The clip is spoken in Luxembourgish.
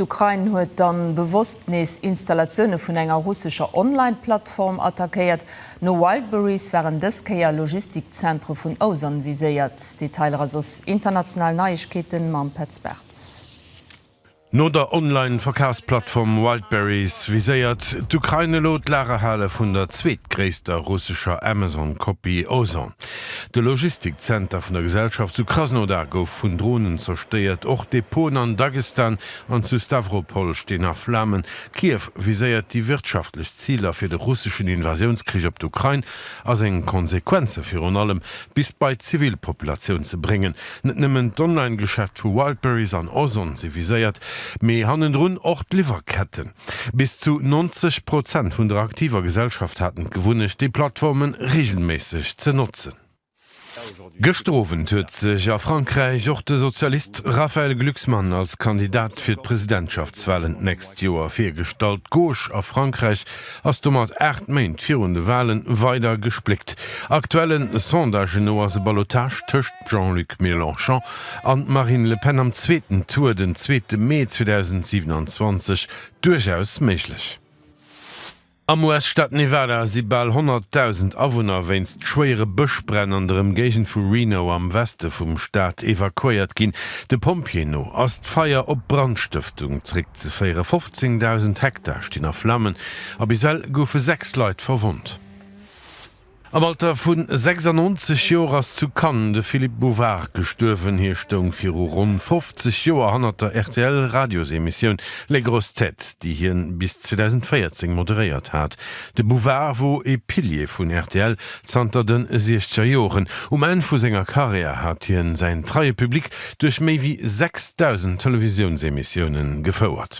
D'Ukrain huet dann bewosst nees Installatioune vun enger russescher Online-Plattform attackéiert. No Wildberries waren dës Kéier Logistikzentre vun Osan viséiert. Detailer a soss international Neiegkeete mam Petz Bartz. No der Online-Verkafsplattform Wildberries viséiert d'Ukrain elo d'Lagerhale vun der zweetgréisster russescher Amazon-Kopie Osan. De Logistikzenter vun der Gesellschaft zu Krasnodar gouf vun Dronen zerstéiert. Och Depoten an Dagestan an zu Stawropol stinn a Flamen. Kiew viséiert déi wirtschaftlech Ziler fir de russeschen Invasiounskrich op d'Ukrain a seng Konsequenze virun allem bis bei d'Zivilpopulatioun ze bréngen. Net nëmmen d'Online-Geschäft vu Wildberries an Ozon si viséiert, mee hannendrun och d'Liwwerketten. Bis zu 90 Prozent vun der aktiver Gesellschaft haten d'Gewunnecht, déi Plattforme reegelméisseg ze notzen. Gëschter Owend huet sech a Frankräich och de Sozialist Raphaël Glucksmann als Kandidat fir d'Presidentschaftswalen d'nächst Joer virgestallt. D'Gauche a Frankräich ass domat 8 Méint virun de Walen weider gespléckt. Aktuellen Sondagen no ass e Ballotage tëscht Jean-Luc Mélenchon an d'Marine Le Pen am zweeten Tour den zweete Mee 2027 duerchaus méiglech. Am US-Staat Nevada si bal 100.000 Awunner wéinst schwéiere Bëschbränn an der Ëmgéigend vu Reno am Weste vum Staat evakuéiert ginn. De Pompjeeë no ass d'Feier op Brandstëftung zeréckzeféieren. 15.000 Hektar stinn a Flammen a bis well goufe sechs Leit verwonnt. Am Alter vu 96 Joer ass zu Cannes de Philippe Bouvard gestuerwen. Hie stoung viru ronn 50 Joer hannert der RTL-Radiosemissioun Les grosses têtes, déi hien bis 2014 moderéiert hat. De Bouvard wor ee Pilier vun rtl zanter de siechzeger Joren. Um Enn vu senger Karriär hat hien säin treie Public duerch méi wéi 6.000 Televisiounsemissiounen gefouert.